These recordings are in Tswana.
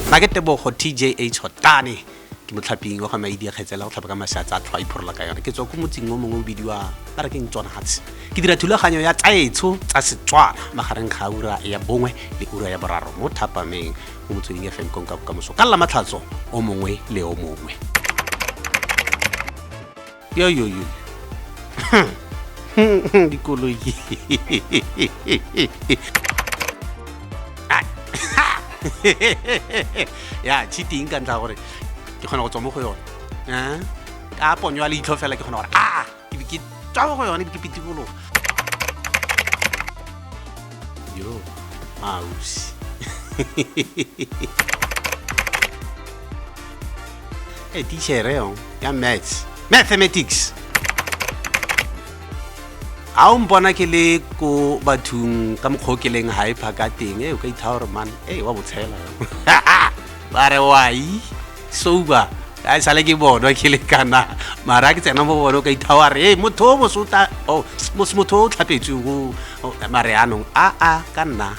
ba ke tebogo tjh hotane ke motlhaping wa ga maidi a kgetsela go tlhapa ka maseatsa a tlhwa iphorola ka yone ke tswa ko motsing o mongwe o bidiwa ba re ke ntswana gatshe ke dira thulaganyo ya tsaetsho tsa setswana magareng ga ura ya bongwe le ura ya boraro mo thapameng mo motsweding ya fm konka bokamoso ka lla matlhatso o mongwe le o mongwe yo yo yo dikoloi ya cheating ka ntlha gore ke kgona go tswa mo go yone eh? ka ponyo ya leitlho fela ke kgona gore a ke tswa mo go yone ke pitikologo yo ausi e tichere yo ya maths mathematics ga o mpona ke le ko bathong ka mokgwa o ke leng hyper ka teng e o ka ithaa gore man e wa botshela ba re wai souba a e sale ke bonwa ke le kana mara ke tsena mo bone o ka ithawa re motho o mosota oh, motho o tlhapetswe o oh, mare anong a a ka nna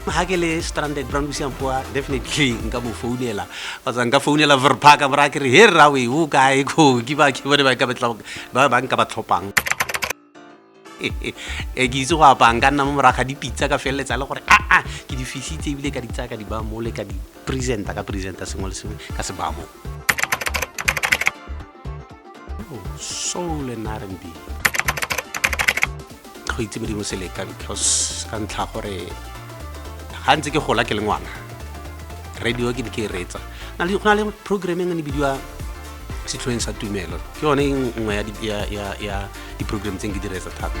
ga ke le stranded brown bosiang poa definitely nka mo founela kgotsa nka founela verpaka mora ke re he rrawe o kae ko ke ba ke bone ba nka ba tlhopang e ke itse go apaya nka nna mo moraga dipitsa ka feleletsa le gore aa ah, ah, ke di fisitse ebile ka di tsaya ka di baya mole ka di presenta ka presenta sengwe le sengwe ka se baya moo oh, soul and r b go itse modimo seleka because ka ntlha gore ga ntse ke gola ke le ngwana radio ke ne ke e reetsa go na le programming ne bidiwa setlhoeng sa tumelo ke yone nngwe ya di-program tse ke di reetsa thata